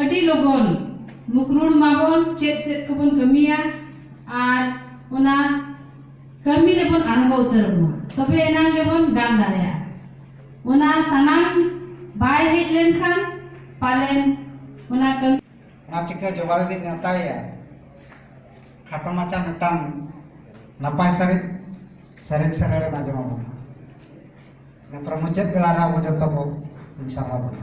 ᱟᱹᱰᱤ ᱞᱚᱜᱚᱱ ᱢᱩᱠᱨᱩᱲ ᱢᱟᱵᱚᱱ ᱪᱮᱫ ᱪᱮᱫ ᱠᱚᱵᱚᱱ ᱠᱟᱹᱢᱤᱭᱟ ᱟᱨ ᱚᱱᱟ ᱠᱟᱹᱢᱤ ᱨᱮᱵᱚᱱ ᱟᱬᱜᱚ ᱩᱛᱟᱹᱨᱚᱜ ᱢᱟ ᱛᱚᱵᱮ ᱮᱱᱟᱝ ᱜᱮᱵᱚᱱ ᱜᱟᱱ ᱫᱟᱲᱮᱭᱟᱜᱼᱟ ᱚᱱᱟ ᱥᱟᱱᱟᱢ ᱵᱟᱭ ᱦᱮᱡ ᱞᱮᱱᱠᱷᱟᱱ ᱯᱟᱞᱮᱱ ᱚᱱᱟ ᱠᱟᱹᱢᱤ ᱚᱱᱟ ᱪᱤᱠᱟᱹ ᱡᱚᱵᱟ ᱫᱤᱫᱤᱧ ᱱᱮᱣᱛᱟᱭᱮᱭᱟ ᱠᱷᱟᱴᱚ ᱢᱟᱪᱷᱟ ᱢᱤᱫᱴᱟᱝ ᱱᱟᱯᱟᱭ ᱥᱟᱹᱨᱤᱡ ᱥᱮᱨᱮᱧ ᱥᱮᱨᱮᱧ ᱨᱮᱱᱟᱜ ᱡᱚᱢᱟ ᱵᱚᱱᱟ ᱱᱮᱛᱟᱨ ᱢᱩᱪᱟᱹᱫ ᱵᱮᱲᱟ ᱨᱮ ᱟᱵᱚ ᱡᱚᱛᱚ ᱵᱚ ᱥᱟᱨᱦᱟᱣ ᱵᱚᱱᱟ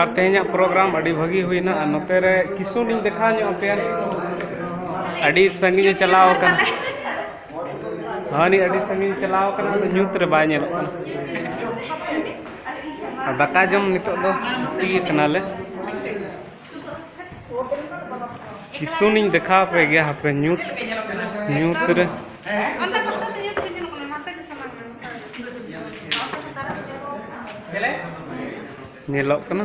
ᱟᱨ ᱛᱮᱦᱮᱧᱟᱜ ᱯᱨᱳᱜᱨᱟᱢ ᱟᱹᱰᱤ ᱵᱷᱟᱹᱜᱤ ᱦᱩᱭᱱᱟ ᱟᱨ ᱱᱚᱛᱮ ᱨᱮ ᱠᱤᱥᱩᱱ ᱤᱧ ᱫᱮᱠᱷᱟᱣ ᱧᱚᱜ ᱟᱯᱮᱭᱟ ᱟᱹᱰᱤ ᱥᱟᱺᱜᱤᱧᱮ ᱪᱟᱞᱟᱣ ᱟᱠᱟᱱᱟ ᱦᱟᱹᱱᱤ ᱟᱹᱰᱤ ᱥᱟᱺᱜᱤᱧ ᱪᱟᱞᱟᱣ ᱟᱠᱟᱱᱟ ᱟᱫᱚ ᱧᱩᱛ ᱨᱮ ᱵᱟᱭ ᱧᱮᱞᱚᱜ ᱠᱟᱱᱟ ᱟᱨ ᱫᱟᱠᱟ ᱡᱚᱢ ᱱᱤᱛᱚᱜ ᱫᱚ ᱛᱷᱩᱛᱤ ᱠᱟᱱᱟᱞᱮ ᱠᱤᱥᱩᱱ ᱤᱧ ᱫᱮᱠᱷᱟ ᱯᱮ ᱜᱮᱭᱟ ᱦᱟᱯᱮ ᱧᱩᱛ ᱧᱩᱛ ᱨᱮ ᱧᱮᱞᱚᱜ ᱠᱟᱱᱟ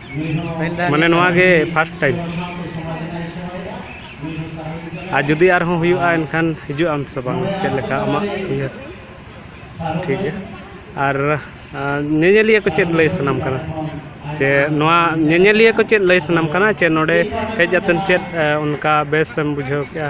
ᱢᱟᱱᱮ ᱱᱚᱣᱟ ᱜᱮ ᱯᱷᱟᱥᱴ ᱴᱟᱭᱤᱢ ᱟᱨ ᱡᱩᱫᱤ ᱟᱨᱦᱚᱸ ᱦᱩᱭᱩᱜᱼᱟ ᱮᱱᱠᱷᱟᱱ ᱦᱤᱡᱩᱜ ᱟᱢ ᱥᱮ ᱵᱟᱝ ᱪᱮᱫ ᱞᱮᱠᱟ ᱟᱢᱟᱜ ᱩᱭᱦᱟᱹᱨ ᱴᱷᱤᱠ ᱜᱮᱭᱟ ᱟᱨ ᱧᱮᱧᱮᱞᱤᱭᱟᱹ ᱠᱚ ᱪᱮᱫ ᱞᱟᱹᱭ ᱥᱟᱱᱟᱢ ᱠᱟᱱᱟ ᱥᱮ ᱱᱚᱣᱟ ᱧᱮᱧᱮᱞᱤᱭᱟᱹ ᱠᱚ ᱪᱮᱫ ᱞᱟᱹᱭ ᱥᱟᱱᱟᱢ ᱠᱟᱱᱟ ᱥᱮ ᱱᱚᱰᱮ ᱦᱮᱡ ᱠᱟᱛᱮᱫ ᱪᱮᱫ ᱚᱱᱠᱟ ᱵᱮᱥ ᱮᱢ ᱵᱩᱡᱷᱟᱹᱣ ᱠᱮᱜᱼᱟ